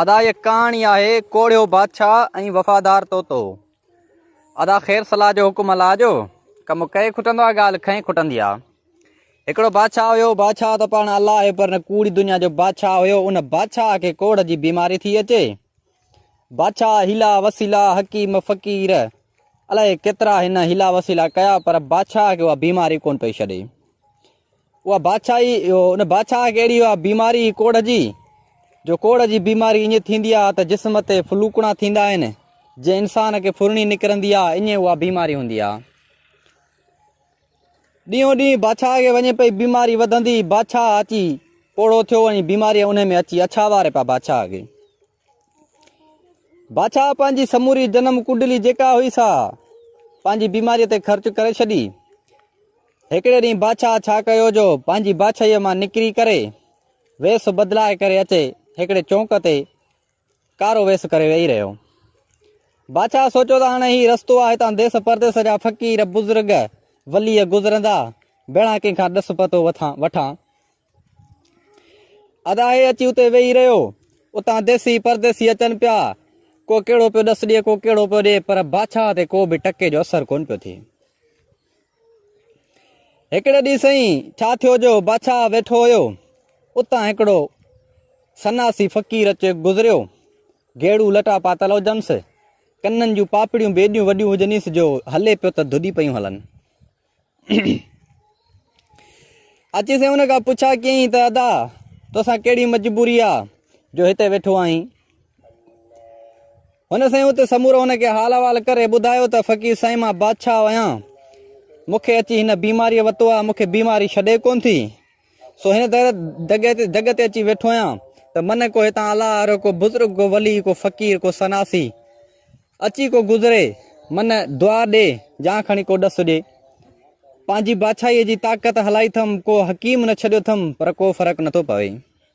ادا هيء ڪهاڻي آهي ڪوڙهيو بادشاهه ۽ وفادار طوطو. ادا خير صلاح جو حڪم الله جو ڪم ڪئي کٽندو آ ڳالهه کئي کٽندي آ. هڪڙو بادشاهه هيو بادشاهه ته پاڻ الله آهي پر نه ڪوڙي دنيا جو بادشاهه هيو ان بادشاهه کي ڪوڙهه جي بيماري ٿي اچي بادشاهه حيلا وسيلا حڪيم فقير الاهي ڪيترا هن حيلا وسيلا ڪيا پر بادشاهه کي اها بيماري ڪون پئي ڇڏي اها بادشاهي ان بادشاهه کي اهڙي اها بيماري ڪوڙ جي جو ڪوڙ جي بيماري ائين ٿيندي آهي ته جسم تي فلوڪڻا ٿيندا آهن جي انسان کي ڦرڻي نڪرندي آهي ائين اها بيماري هوندي آهي ڏينهون ڏينهن بادشاهه کي وڃي پئي بيماري وڌندي بادشاهه اچي پوڙهو ٿيو ۽ بيماري ان ۾ اچي اڇاواري پيا بادشاهه کي بادشاهه پنهنجي سموري جنم ڪنڊلي جيڪا هئي سا پنهنجي بيماري تي خرچ ڪري ڇڏي هڪڙي ڏينهن بادشاهه ڇا ڪيو جو پنهنجي بادشاهي مان نڪري ڪري ويس بدلائي ڪري اچي هڪڙي چونڪ تي ڪارو ويس ڪري ويهي رهيو بادشاهه سوچيو ته هاڻي هي رستو آهي هتان ديس پرديس جا فقير بزرگ ولي گذرندا بنا ڪنهن کان ڏس پتو وٺان اداهي اچي اتي ويهي رهيو اتان ديسي پرديسي اچن پيا ڪو ڪهڙو پيو ڏس ڏي ڪو ڪهڙو پيو ڏي پر بادشاهه تي ڪو به ٽڪي جو اثر ڪون پيو ٿئي هڪڙي ڏينهن سائين ڇا ٿيو جو بادشاهه ويٺو هيو اتان هڪڙو سناسي فقير اچي گذريو گيڙو لٽا پاتل هجنس ڪنن جون پاپڙيون بيڏيون وڏيون هجنس جو هلي پيو ته ڌڏي پيون هلن اچي سين ان کان پڇا ڪيئين ته ادا توسان ڪهڙي مجبوري آ جو هتي ويٺو آهين هن سين اتي سمورو ان کي حال احوال ڪري ٻڌايو ته فقير سائين مان بادشاهه آهيان مونکي اچي هن بيماري وتو آ مونکي بيماري ڇڏي ڪون ٿي سو هن در دڳ تي دڳ تي اچي ويٺو آهيان ته من ڪو هتان الله وارو ڪو بزرگ ڪو ولي ڪو فقير ڪو سناسي اچي ڪو گذري من دعا ڏي يا کڻي ڪو ڏس ڏي پنهنجي بادشاهي جي طاقت هلائي ٿم ڪو حڪيم نه ڇڏيو ٿم پر ڪو فرق نٿو پوي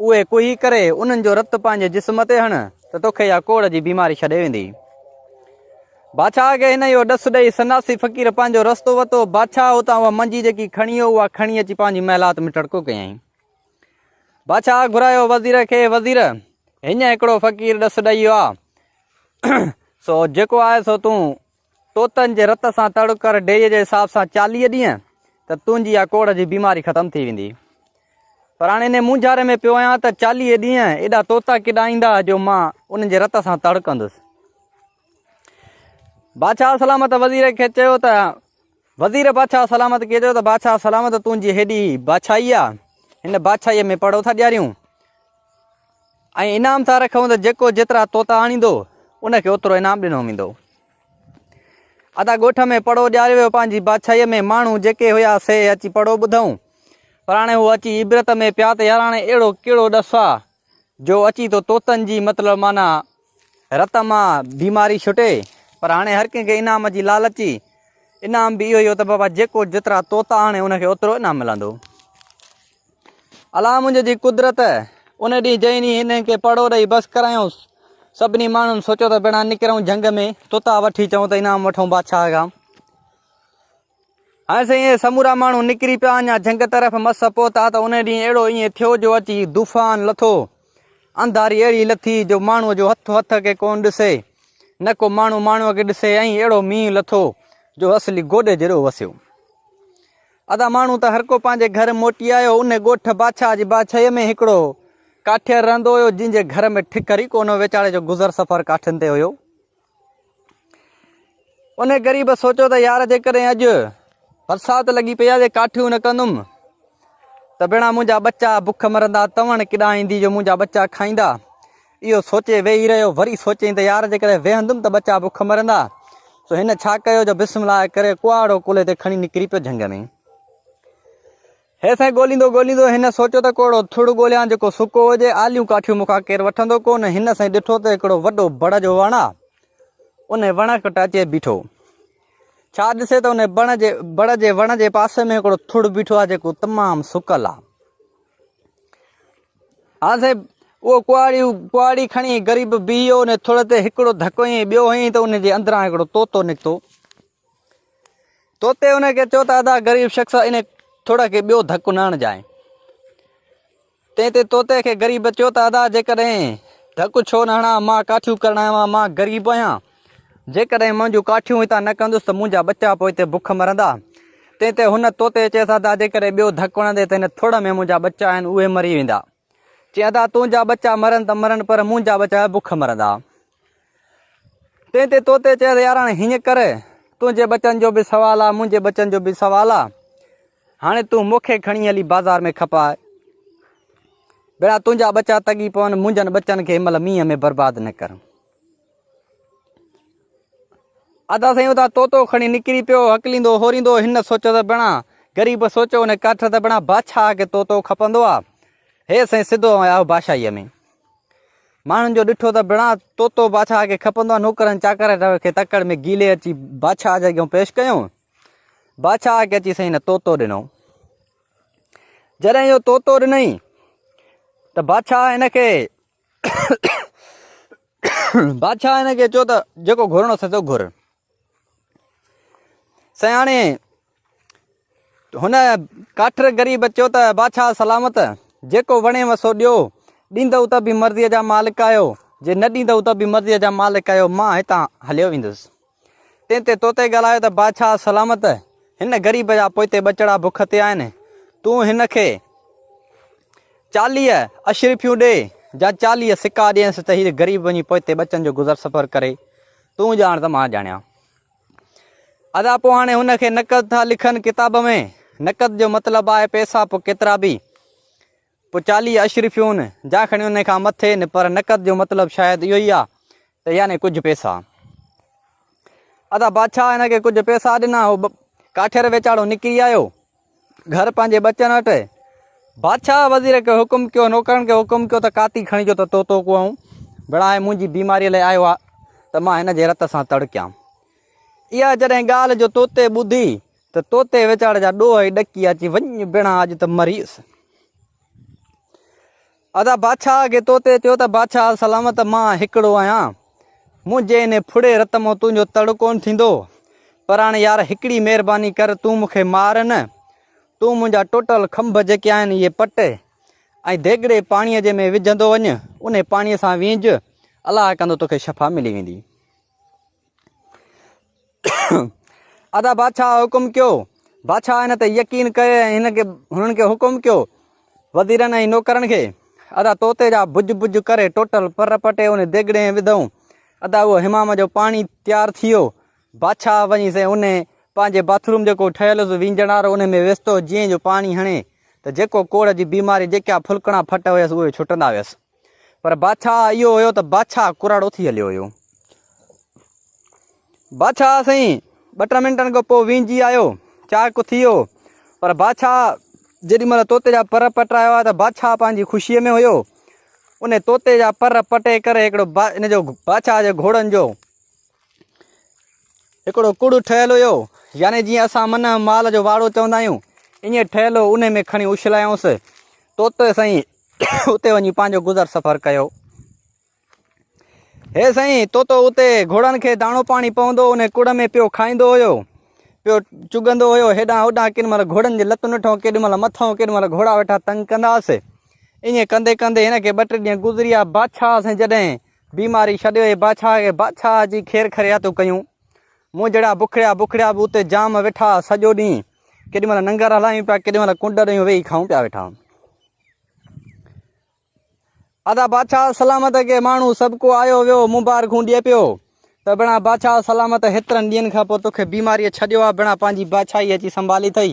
اهي ڪوهي ڪري انهن جو رت پنهنجي جسم تي هڻ ته توکي اها ڪوڙ جي بيماري ڇڏي ويندي. بادشاهه کي هن اهو ڏس ڏئي سناسي فقير پنهنجو رستو وتو. بادشاهه اتان اها منجي جيڪي کڻي هو اها کڻي اچي پنهنجي محلات ۾ ٽڙڪو ڪيائين. بادشاهه گهرايو وزير کي وزير هينئن هڪڙو فقير ڏس ڏئي ويو آهي سو جيڪو آهي سو تون طوطن جي رت سان تڙ ڪر ڊيء جي حساب سان چاليهه ڏينهن ته تنهنجي اها ڪوڙهه جي بيماري ختم ٿي ويندي. پر هاڻ انهي مونجهاري ۾ پيو آهيان ته چاليهه ڏينهن ايڏا طوطا ڪيڏا ايندا جو مان انهن جي رت سان تڙ ڪندس. بادشاهه سلامت وزير کي چيو ته وزير بادشاهه سلامت کي چيو ته بادشاهه سلامت تنهنجي هيڏي بادشاهي آ، هن بادشاهيء ۾ پڙهو ٿا ڏياريون ۽ انعام ٿا رکون ته جيڪو جيترا طوطا آڻيندو ان کي اوترو انعام ڏنو ويندو. ادا ڳوٺ ۾ پڙهو ڏياريو ويو پنهنجي بادشاهيء ۾ ماڻهو جيڪي هيا سي اچي پڙهو ٻڌئون پر هاڻي هو اچي عبرت ۾ پيا ته ياراڻي اهڙو ڪهڙو ڏس آ جو اچي تو طوطن جي مطلب معنيٰ رت مان بيماري ڇٽي پر هاڻي هر ڪنهن کي انعام جي لالچ ئي انعام به اهو ئي هو ته بابا جيڪو جيترا طوطا آڻي ان کي اوترو انعام ملندو الا منهنجي جي قدرت ان ڏينهن جنهن ڏينهن هنن کي پڙو ڏئي بس ڪرايوس سڀني ماڻهن سوچيو ته بنا نڪرون جنگ ۾ طوطا وٺي چئون ته انعام وٺون بادشاهه کان هاڻ سائين اهي سمورا ماڻهو نڪري پيا اڃا جهنگ طرف مس پهتا ته ان ڏينهن اهڙو ائين ٿيو جو اچي دفان لٿو انڌاري اهڙي لٿي جو ماڻهو جو هٿ هٿ کي ڪون ڏسي نه ڪو ماڻهو ماڻهو کي ڏسي ۽ اهڙو مينهن لٿو جو اصلي گوڏي جهڙو وسيو ادا ماڻهو ته هر ڪو پنهنجي گهر موٽي آيو ان ڳوٺ باڇا جي باڇي ۾ هڪڙو ڪاٺير رهندو هيو جنهن جي گهر ۾ ٺڪر ئي ڪونه ويچاري جو گذر سفر ڪاٺين تي هيو انهي غريب سوچيو ته يار جيڪڏهن اڄ برسات لڳي پئي آ جي ڪاٺيون نه ڪندم ته ڀيڻا منهنجا ٻچا بک مرندا تون ڪيڏانهن ايندي جو منهنجا ٻچا کائيندا اهو سوچي ويهي رهيو وري سوچين ته يار جيڪڏهن ويهندم ته ٻچا بک مرندا سو هن ڇا ڪيو جو بسم الله ڪري ڪهاڙو ڪلهي تي کڻي نڪري پيو جهنگ ۾ هي سائين ڳوليندو ڳوليندو هن سوچيو ته ڪوڙو ٿڙ ڳوليان جيڪو سڪو هجي، آليون ڪاٺيون مون کان ڪير وٺندو ڪونه، هن سائين ڏٺو ته هڪڙو وڏو بڻ جو وڻ آ، انهي وڻ ڪٽ اچي بيٺو، ڇا ڏسي ته انهي بڻ جي بڻ جي وڻ جي پاسي ۾ هڪڙو ٿڙ بيٺو آ جيڪو تمام سڪل آ. هان سائين اهو ڪهاڙي ڪهاڙي کڻي غريب بيهي ويو انهي ٿڙ تي هڪڙو ڌڪ هنئين ٻيو هنئين ته انهي جي اندران هڪڙو طوطو نڪتو، توتي ان کي چيو ته ادا غريب شخص ان ٿوڙا کي ٻيو ڌڪ نه هڻجائين تنهن تي توتي کي غريب چيو ته ادا جيڪڏهن ڌڪ ڇو نه هڻا مان ڪاٺيون ڪرڻ آيو آهيان مان غريب آهيان جيڪڏهن منهنجون ڪاٺيون هتان نه ڪندس ته منهنجا ٻچا پوء هتي بک مرندا تنهن تي هن توتي چيس ادا جيڪڏهن ٻيو ڌڪ هڻندي ته هن ٿوڙ ۾ منهنجا ٻچا آهن اهي مري ويندا چي ادا تنهنجا ٻچا مرن ته مرن پر منهنجا ٻچا بک مرندا تنهن تي طوطي چيس ياراڻ هيئن ڪر تنهنجي ٻچن جو به سوال آ منهنجي ٻچن جو به سوال آ هاڻي تون مونکي کڻي هلي بازار ۾ کپاء بيڙا تنهنجا ٻچا تڳي پون منهنجن ٻچن کي مل مينهن ۾ برباد نه ڪر ادا سائين ادا طوطو کڻي نڪري پيو هڪليندو هوريندو هن سوچو ته بيڻا غريب سوچو ان ڪاٺ ته بيڻا بادشاهه کي طوطو کپندو آ هي سائين سڌو آيو بادشاهي ۾ ماڻهن جو ڏٺو ته بڻا طوطو بادشاهه کي کپندو آهي نوڪرن چاڪرن کي تڪڙ ۾ گيلي اچي بادشاهه جي اڳيان پيش ڪيو بادشاهه کي اچي سائين طوطو ڏنو جڏهن اهو طوطو ڏنئي ته بادشاهه هن کي بادشاهه هن کي چيو ته جيڪو گهرڻو اٿس سو گهر سياڻي هن ڪاٺر غريب اچيو ته بادشاهه سلامت جيڪو وڻيو سو ڏيو ڏيندو ته به مرضي جا مالڪ آهيو جي نه ڏيندو ته به مرضي جا مالڪ آهيو مان هتان هليو ويندس تنهن تي توتي ڳالهايو ته بادشاهه سلامت هن غريب جا پوئتي ٻچڙا بک تي آهن تون هن کي چاليهه اشرفيون ڏي جا چاليهه سڪا ڏينس ته هي غريب وڃي پوئتي ٻچن جو گذر سفر ڪري تون ڄاڻ ته مان ڄاڻيان ادا پو هاڻي هن کي نقد ٿا لکن ڪتاب ۾ نقد جو مطلب آهي پيسا پو ڪيترا به پو چالي اشرفيون جا کڻي ان کان مٿي نه پر نقد جو مطلب شايد اهو ئي آهي ته يعني ڪجهه پيسا ادا بادشاهه هن کي ڪجهه پيسا ڏنا هو ڪاٺير ويچاڙو نڪري آيو گهر پنهنجي ٻچن وٽ اهي. بادشاهه وزير کي حڪم ڪيو نوڪرن کي حڪم ڪيو ته ڪاتي کڻي جو ته طوطو ڪوئون بڻائي منهنجي بيماري لاء آيو آهي ته مان هن جي رت سان تڙڪيان. اها جڏهن ڳالهه جو طوطي ٻڌي ته طوطي ويچاري جا ڏوهه ئي ڏڪي اچي وڃ بيڻا اڄ ته مريس. ادا بادشاهه کي تو تي چيو ته بادشاهه سلامت مان هڪڙو آهيان منهنجي ان ڦڙي رت مون تنهنجو تڙ ڪون ٿيندو پر هاڻي يار هڪڙي مهرباني ڪر تون مون کي مار نه تون منهنجا ٽوٽل کنڀ جيڪي آهن اهي پٽ ۽ ديڳڙي پاڻي جي ۾ وجهندو وڃ انهي پاڻي سان وينج الله ڪندو توکي شفا ملي ويندي ادا بادشاهه حڪم ڪيو بادشاهه هن تي يقين ڪيو ۽ هن کي هنن کي حڪم ڪيو وزيرن ۽ نوڪرن کي ادا طوطي جا بج بج ڪري ٽوٽل پر پٽي ان ديگڙي ۾ وڌائون ادا اهو حمام جو پاڻي تيار ٿي ويو بادشاهه وڃي سي ان پنهنجي باٿروم جيڪو ٺهيل هوس وينجڻ وارو ان ۾ ويستو جيئن جو پاڻي هڻي ته جيڪو ڪوڙ جي بيماري جيڪا ڦلڪڻا ڦٽ هيس اهي ڇٽندا هيس پر بادشاهه اهو هيو ته بادشاهه ڪراڙو ٿي هليو هيو. بادشاهه سائين ٻه ٽن منٽن کان پوء وينجي آيو، چاهه ڪٿيو، پر بادشاهه جيڏي مهل طوطي جا پر پٽرايا هئا ته بادشاهه پنهنجي خوشيء ۾ هيو. ان طوطي جا پر پٽي ڪري هڪڙو ان جو بادشاهه جي گهوڙن جو هڪڙو ڪڙ ٺهيل هيو، يعني جيئن اسان منهن مال جو واڙو چوندا آهيون، ائين ٺهيل هو، انهي ۾ کڻي اڇلايائونس. طوطي سائين اتي وڃي پنهنجو گذر سفر ڪيو. هي سائين طوطو اتي گهوڙن کي داڻو پاڻي پوندو ان ڪڙ ۾ پيو کائيندو هيو پيو چگندو هيو هيڏان هوڏان ڪن مهل گهوڙن جي لتون نٺون ڪيڏي مهل مٿون ڪيڏي مهل گهوڙا ويٺا تنگ ڪنداس ائين ڪندي ڪندي هن کي ٻه ٽي ڏينهن گذريا بادشاهه سائين جڏهن بيماري ڇڏيو هي بادشاهه کي بادشاهه جي خير خرياتون ڪيون مون جهڙا بکڙيا بکڙيا به اتي جام ويٺا سڄو ڏينهن ڪيڏي مهل ننگر هلايون پيا ڪيڏي مهل ڪنڊ ڏيون ويهي کائون پيا ويٺا هون ادا بادشاهه سلامت کي ماڻهو سڀ کو آيو ويو مبارڪون ڏي پيو ته بنا بادشاهه سلامت هيترن ڏينهن کان پوء توکي بيماري ڇڏيو آ بنا پنهنجي بادشاهي اچي سنڀالي اٿئي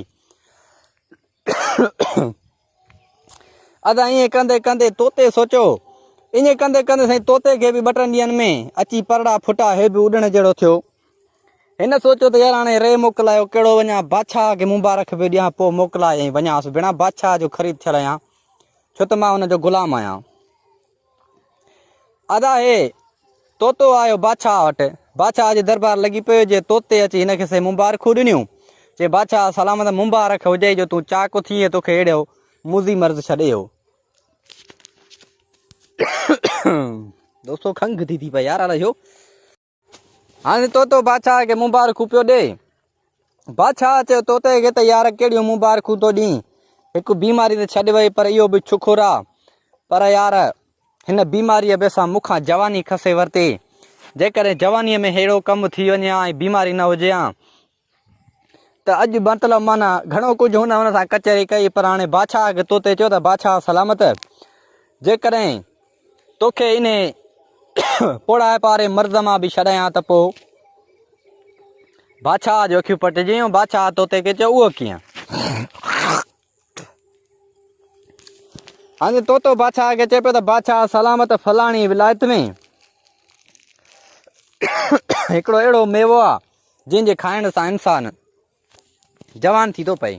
ادا ائين ڪندي ڪندي طوطي سوچيو. ائين ڪندي ڪندي سائين طوطي کي به ٻه ٽن ڏينهن ۾ اچي پرڙا ڦٽا هي به اڏڻ جهڙو ٿيو. هن سوچيو ته يار هاڻي ري موڪلايو ڪهڙو وڃان بادشاهه کي مبارڪ به ڏيان پوء موڪلائي ۽ وڃانس بنا بادشاهه جو خريد ٿيل آهيان ڇو ته مان هن جو غلام آهيان. ادا هي طوطو آيو بادشاهه وٽ. بادشاهه جي دربار لڳي پيو جي طوطي اچي هن کي سي مبارڪون ڏنيون. چي بادشاهه سلامت مبارڪ هجئي جو تون چاڪ ٿي ۽ توکي اهڙو موذي مرض ڇڏيو. دوستو کنگهه ٿي ٿي پئي يار الاء ڇو. هاڻي طوطو بادشاهه کي مبارڪون پيو ڏي بادشاهه چيو طوطي کي ته يار ڪهڙيون مبارڪون ٿو ڏين هڪ بيماري ته ڇڏ وئي پر اهو به شڪر آ پر يار هن بيماريء به سان مون کان جواني کسي ورتي جيڪڏهن جوانيء ۾ ههڙو ڪم ٿي وڃي ها ۽ بيماري نه هجي ها ته اڄ مطلب معنيٰ گهڻو ڪجهه هن هن سان ڪچهري ڪئي پر هاڻي بادشاهه کي توتي چيو ته بادشاهه سلامت جيڪڏهن توکي ان پوڙهائپ واري مرض مان به ڇڏايان ته پوء بادشاهه جي اکيون پٽجيون بادشاهه توتي کي چيو اهو ڪيئن هاڻي طوطو بادشاهه کي چئي پيو ته بادشاهه سلامت فلاڻي ولائت ۾ هڪڙو اهڙو ميوو آ جنهن جي کائڻ سان انسان جوان ٿي ٿو پئي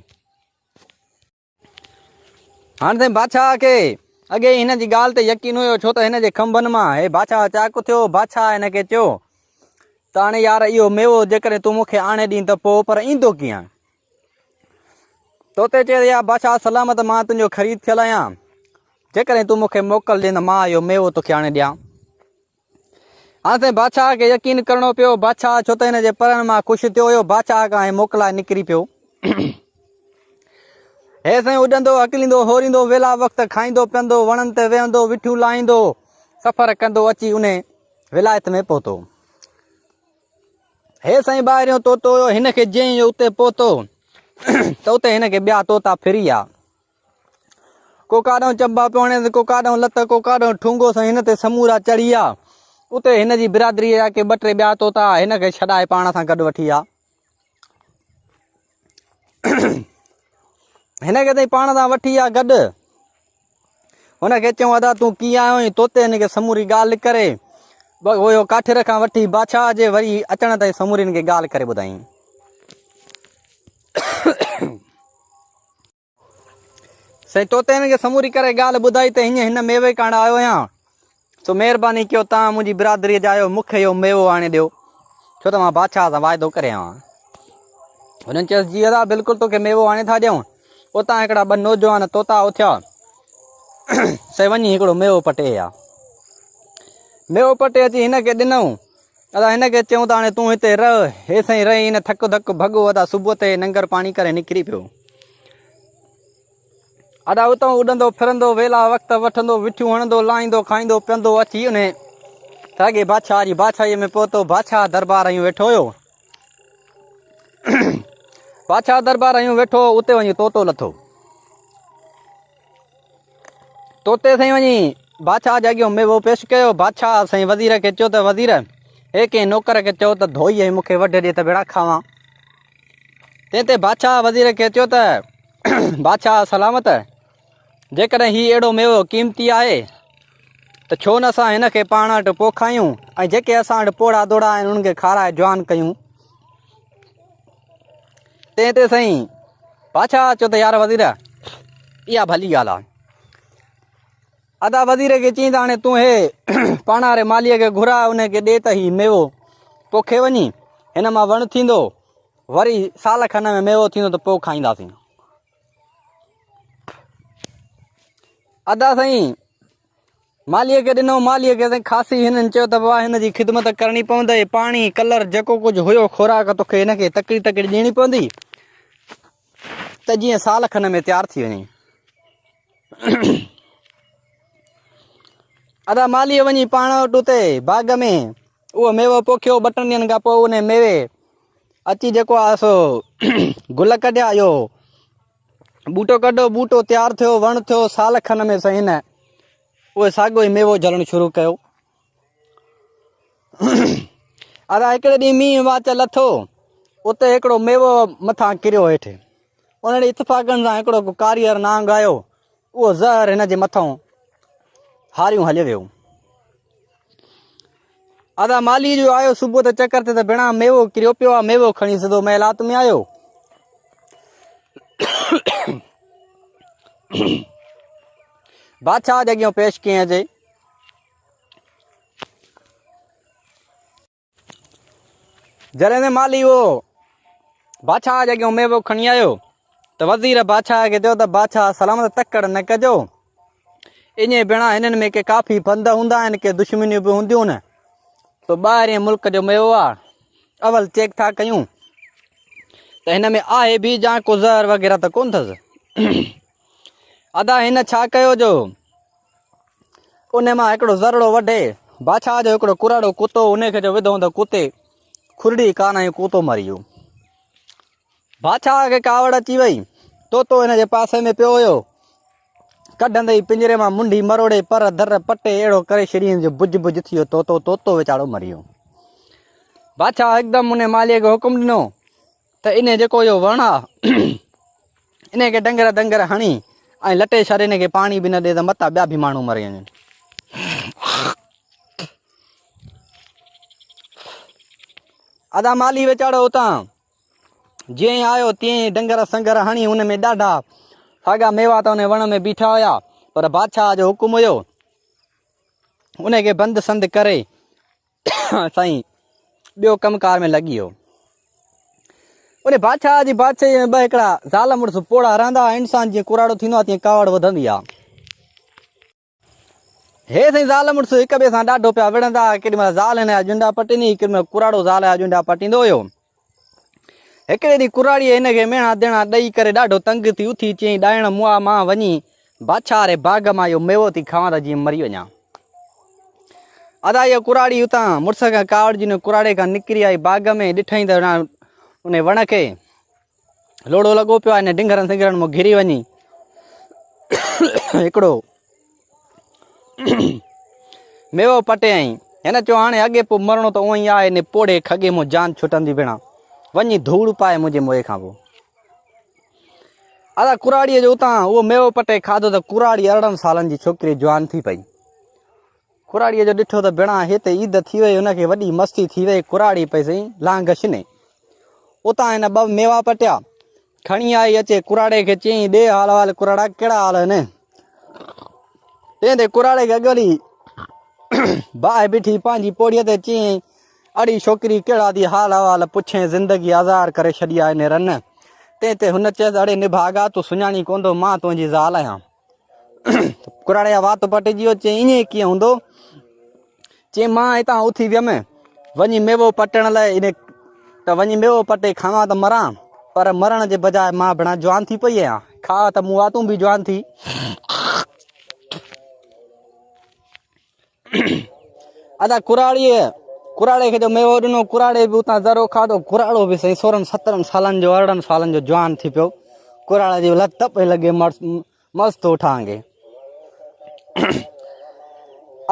هاڻي سائين بادشاهه کي اڳي هن جي ڳالهه تي يقين هيو ڇو ته هن جي کنڀن مان هي بادشاهه چاڪ ٿيو بادشاهه هن کي چيو ته هاڻي يار اهو ميوو جيڪڏهن تون مون کي آڻي ڏين ته پوء پر ايندو ڪيئن تو تي چي ريا بادشاهه سلامت مان تنهنجو خريد ٿيل آهيان جيڪڏهن تون مون کي موڪل ڏين ته مان اهو ميوو توکي آڻي ڏيان هاڻ تائين بادشاهه کي يقين ڪرڻو پيو بادشاهه ڇو ته هن جي پرڻ مان خوش ٿيو هيو بادشاهه کان هي موڪلائي نڪري پيو هي سائين اڏندو اڪليندو هوريندو ويلا وقت کائيندو پيندو وڻن تي ويهندو وٺيون لاهيندو سفر ڪندو اچي ان ولايت ۾ پهتو هي سائين ٻاهريون طوطو هيو، هن کي جئين اهو اتي پهتو ته اتي هن کي ٻيا طوطا ڦري آيا. ڪو ڪاڏانهن چنبا پيو هڻيس، ڪو ڪاڏانهن لت، ڪو ڪاڏانهن ٺونگو سائين هن تي سمورا چڙهي آيا. اتي هن جي برادريء جا ڪي ٻه ٽي ٻيا طوطا هن کي ڇڏائي پاڻ سان گڏ وٺي آيا. هن کي تائين پاڻ سان وٺي آ گڏ هن کي چيو ادا تون ڪيئن آيو آهين تو تي هن کي سموري ڳالهه ڪري اهو ڪاٺر کان وٺي بادشاهه جي وري اچڻ تائين سموري هن کي ڳالهه ڪري ٻڌائين سائين توتي هن کي سموري ڪري ڳالهه ٻڌائي ته هيئن هن ميوي ڪاڻ آيو آهيان سو مهرباني ڪيو توهان منهنجي برادري جا آهيو مون کي اهو ميوو آڻي ڏيو ڇو ته مان بادشاهه سان واعدو ڪري آيو آهيان هنن چيس جي ادا بلڪل توکي ميوو آڻي ٿا ڏيون اتان هڪڙا ٻه نوجوان توتا اٿيا سائين وڃي هڪڙو ميوو پٽي آ ميوو پٽي اچي هن کي ڏنو ادا هن کي چيون ته هاڻي تون هتي رهه هي سائين رهي هن ٿڪ ڌڪ ڀڳو ادا صبح تي ننگر پاڻي ڪري نڪري پيو ادا اتو اڏندو ڦرندو ويلا وقت وٺندو وٺيون هڻندو لاهيندو کائيندو پيندو اچي ان ساڳي بادشاهه جي بادشاهي ۾ پهتو بادشاهه دربار آيون ويٺو هيو بادشاهه دربار آيون ويٺو اتي وڃي طوطو لٿو توتي سائين وڃي بادشاهه جي اڳيان ميوو پيش ڪيو بادشاهه سائين وزير کي چيو ته وزير هي ڪنهن نوڪر کي چيو ته ڌوئي ۽ مون کي وڍ ڏي ته ويڙا کاوان تنهن تي بادشاهه وزير کي چيو ته بادشاهه سلامت جيڪڏهن هي اهڙو ميوو قيمتي آهي ته ڇو نه اسان هن کي پاڻ وٽ پوکايون ۽ جيڪي اسان وٽ پوڙها دوڙا آهن انهن کي کارائي جوان ڪيون تنهن تي سائين بادشاهه چيو ته يار وزير اها ڀلي ڳالهه آهي ادا وزير کي چئين ته هاڻي تون هي پاڻ واري ماليء کي گهراء ان کي ڏي ته هي ميوو پوکي وڃي هن مان وڻ ٿيندو وري سال کن ۾ ميوو ٿيندو ته پوء کائينداسين ادا سائين مالهيء کي ڏنو. مالهيء کي سائين خاصي هنن چيو ته بابا هن جي خدمت ڪرڻي پوندئي. پاڻي، ڪلر، جيڪو ڪجهه هيو خوراڪ تو کي هن کي تڪڙي تڪڙي ڏيڻي پوندي ته جيئن سال کن ۾ تيار ٿي وڃي. ادا مالهيء وڃي پاڻ وٽ اتي باغ ۾ اهو ميوو پوکيو. ٻه ٽن ڏينهن کان پوء انهي ميوي اچي جيڪو آهي سو گل ڪڍيا. اهو ٻوٽو ڪڍو، ٻوٽو تيار ٿيو، وڻ ٿيو، سال کن ۾ سائين هن اهو ساڳيو ئي ميوو جهلڻ شروع ڪيو. ادا هڪڙي ڏينهن مينهن واچ لٿو، اتي هڪڙو ميوو مٿان ڪريو هيٺ. ان ڏي اتفاقن سان هڪڙو ڪو ڪاريئر نانگ آيو، اهو زهر هن جي مٿان هاريون هليو ويو. ادا مالي جو آيو صبح ته چڪر تي ته بنا ميوو ڪريو پيو آ ميوو کڻي سڌو محلات ۾ آيو بادشاہ جي اڳيان پيش ڪيئن اچي جڏهن ته مالي اهو بادشاهه جي اڳيان ميوو کڻي آيو ته وزير بادشاهه کي چيو ته بادشاهه سلامت تڪڙ نه ڪجو ان بنا هنن ۾ ڪي ڪافي بند هوندا آهن ڪي دشمنيون به هونديون نه سو ٻاهرين ملڪ جو ميوو آ اول چيڪ ٿا ڪيون ته هن ۾ آهي به جا ڪو زهر وغيره ته ڪون اٿس ادا هن ڇا ڪيو جو ان مان هڪڙو ذرڙو وڍي بادشاهه جو هڪڙو ڪراڙو ڪتو ان کي جو وڌو ته ڪتي کڙڙي ڪان ۽ ڪتو مري ويو بادشاهه کي ڪاوڙ اچي وئي توتو ان جي پاسي ۾ پيو هيو ڪڍندي ئي پنجري مان منڍي مروڙي پر در پٽي اهڙو ڪري شرين جو بج بج ٿي ويو توتو توتو ويچارو مري ويو بادشاهه هڪدم ان ماليء کي حڪم ڏنو ته انهيء جيڪو اهو وڻ آ، انهيء کي ڊنگر ڊنگر هڻي ۽ لٽي ڇڏ، انهيء کي پاڻي به نه ڏي ته متان ٻيا به ماڻهو مري وڃن. ادا مالهي ويچارو اتان جيئن ئي آيو تيئن ئي ڊنگر سنگر هڻي ان ۾ ڏاڍا ساڳا ميوا ته ان وڻ ۾ بيٺا هيا، پر بادشاهه جو حڪم هيو انهيء کي بند سند ڪري سائين ٻيو ڪم ڪار ۾ لڳي ويو. انهي بادشاهه جي بادشاهي ۾ ٻه هڪڙا زال مڙس پوڙها رهندا هئا. انسان جيئن ڪوراڙو ٿيندو آهي تيئن ڪاوڙ وڌندي آهي. هي سائين زال مڙس هڪ ٻئي سان ڏاڍو پيا وڙهندا هئا. ڪيڏي مهل زال هن جا ڄنڊا پٽيندي هئي، ڪيڏي مهل ڪوراڙو زال جا ڄنڊا پٽيندو هيو. هڪڙي ڏينهن ڪراڙيء هن کي ميڻا ديڻا ڏئي ڪري ڏاڍو تنگ ٿي اٿي چيائين، ڏائڻ مئا مان وڃي بادشاهه واري باغ مان اهو ميوو ٿي کاوان ته جيئن مري وڃان. ادا اهو ڪراڙي اتان مڙس کان ڪاوڙجي ان ڪراڙي کان نڪري آئي باغ ۾ ڏٺائين ته ان وڻ کي لوڙو لڳو پيو آهي ان ڊنگرن سنگرن مان گھري وڃي هڪڙو ميو پٽيائين. هن چيو هاڻي اڳي پوء مرڻو ته اونئي آهي ني پوڙهي کڳي مون جان ڇٽندي ڀيڻا وڃي ڌوڙ پائي منهنجي موئي کان پوء ادا ڪراڙيء جو اتان اهو ميو پٽي کاڌو ته ڪراڙي ارڙهن سالن جي ڇوڪري جوان ٿي پئي ڪراڙيء جو ڏٺو ته ڀيڻا هي ته عيد ٿي وئي هن کي وڏي مستی ٿي وئي ڪراڙي پئي سائين لانگش ني اتان هن ٻه ميوا پٽيا کڻي آئي اچي ڪراڙي کي چيائين ڏي حال حال ڪراڙا ڪهڙا حال آهن تنهن تي ڪراڙي کي اڳولي باهه بيٺي پنهنجي پوڙهيء تي چيائين اڙي ڇوڪري ڪهڙا ٿي حال احوال پڇين زندگي آزار ڪري ڇڏي آهي نيرن تنهن تي هن چيس اڙي نڀاڳا تون سڃاڻين ڪونه ٿو مان تنهنجي زال آهيان ڪراڙي جا وات پٽجي ويو چي ائين ڪيئن هوندو چي مان هتان اٿي ويم وڃي ميوو پٽڻ لاء ان ته وڃي ميوو پٽي کاوان ته مران پر مرڻ جي بجاء مان بنا جوان ٿي پئي آهيان کاء ته مون واتون به جوان ٿي ادا ڪراڙيء ڪراڙي کي جو ميوو ڏنو ڪراڙي به اتان ذرو کاڌو ڪراڙو به سائين سورن سترن سالن جو ارڙهن سالن جو جوان ٿي پيو ڪراڙا جي لت پئي لڳي مست ٿو ٺاهنگي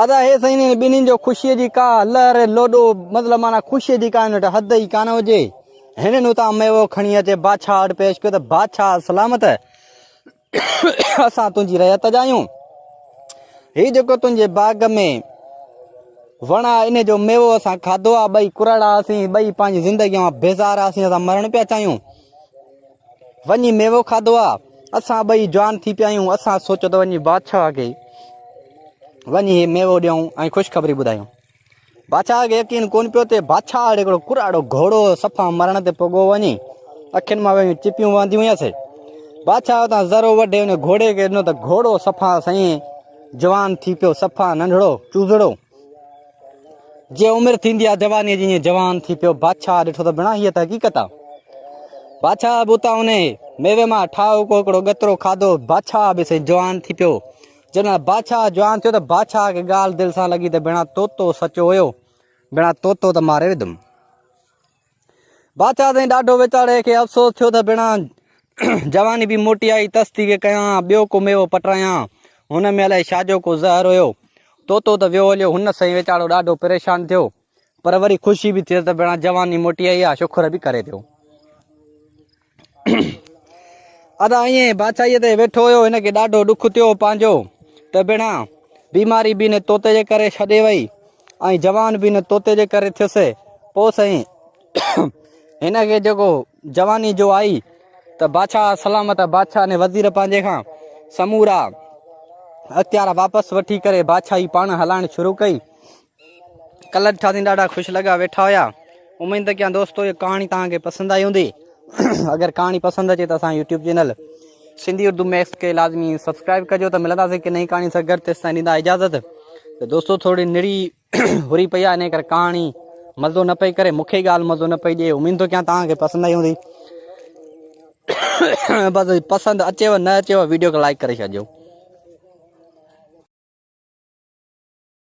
ادا هي سائين ٻنهي جو خوشي جي ڪا لهر لوڏو مطلب مانا خوشي جي ڪا هن وٽ حد ئي ڪانه هجي هنن اتان ميوو کڻي اچي بادشاهه وٽ پيش ڪيو ته بادشاهه سلامت اسان تنهنجي رعيت جا آهيون هي جيڪو تنهنجي باغ ۾ وڻ آ ان جو ميوو اسان کاڌو آ ٻئي ڪرڙا اسين ٻئي پنهنجي زندگي مان بيزار اسين اسان مرڻ پيا چاهيون وڃي ميوو کاڌو آ اسان ٻئي جوان ٿي پيا آهيون اسان سوچو ته وڃي بادشاهه کي وڃي هي ميوو ڏيون ۽ خوشخبري ٻڌايون بادشاهه کي يقين ڪون پيو ته بادشاهه اڙي هڪڙو ڪراڙو گهوڙو صفا مرڻ تي پڳو وڃي اکين مان ويون چپيون وهنديون هيس بادشاهه تان ذرو وڍي ان گهوڙي کي ڏنو ته گهوڙو صفا سائين جوان ٿي پيو صفا ننڍڙو چوزڙو جي عمر ٿيندي آ جواني جي ائين جوان ٿي پيو بادشاهه ڏٺو ته بنا هي ته حقيقت آ بادشاهه بوتا ان ميوي مان ٺاهو ڪو هڪڙو ڳترو کاڌو بادشاهه به سائين جوان ٿي پيو جڏهن بادشاهه جوان ٿيو ته بادشاهه کي ڳالهه دل سان لڳي ته ڀيڻا طوطو سچو هيو ڀيڻا طوطو ته ماري وڌم بادشاهه سائين ڏاڍو ويچاري کي افسوس ٿيو ته ڀيڻا جواني به موٽي آئي تستي کي ڪيان ٻيو ڪو ميوو پٽرايان هن ۾ الائي شاجو ڪو زهر هيو طوطو ته ويو هليو هن سائين ويچارو ڏاڍو پريشان ٿيو پر وري خوشي به ٿئي ته ڀيڻا جواني موٽي آئي آ شکر به ڪري پيو ادا ائين بادشاهي تي ويٺو هيو هن کي ڏاڍو ڏک ٿيو پنهنجو ته بنا بيماري به نه توتي جي ڪري ڇڏي وئي ۽ جوان به نه توتي جي ڪري ٿيس پو سائين هن کي جيڪو جواني جو آئي ته بادشاهه سلامت بادشاهه نے وزير پنهنجي کان سمورا اختيار واپس وٺي ڪري بادشاهي پاڻ هلائڻ شروع ڪئي کلن شاهين ڏاڍا خوش لڳا ويٺا هيا اميد ته ڪيان دوستو هي ڪهاڻي توهان کي پسند آئي هوندي اگر ڪهاڻي پسند اچي ته اسان YouTube channel Sindhi Urdu mix کي لازمي سبسڪرائب ڪجو ته ملنداسي ڪي نئين ڪهاڻي سان گڏ تيستائين ڏيندا اجازت ته دوستو ٿوري نڙي هري پئي آهي ان ڪري ڪهاڻي مزو نه پئي ڪري مونکي ڳالهه مزو نه پئي ڏي اميد ٿو ڪيان توهان کي پسند آئي هوندي بس پسند اچيو نه اچيو ويڊيو کي لائڪ ڪري ڇڏجو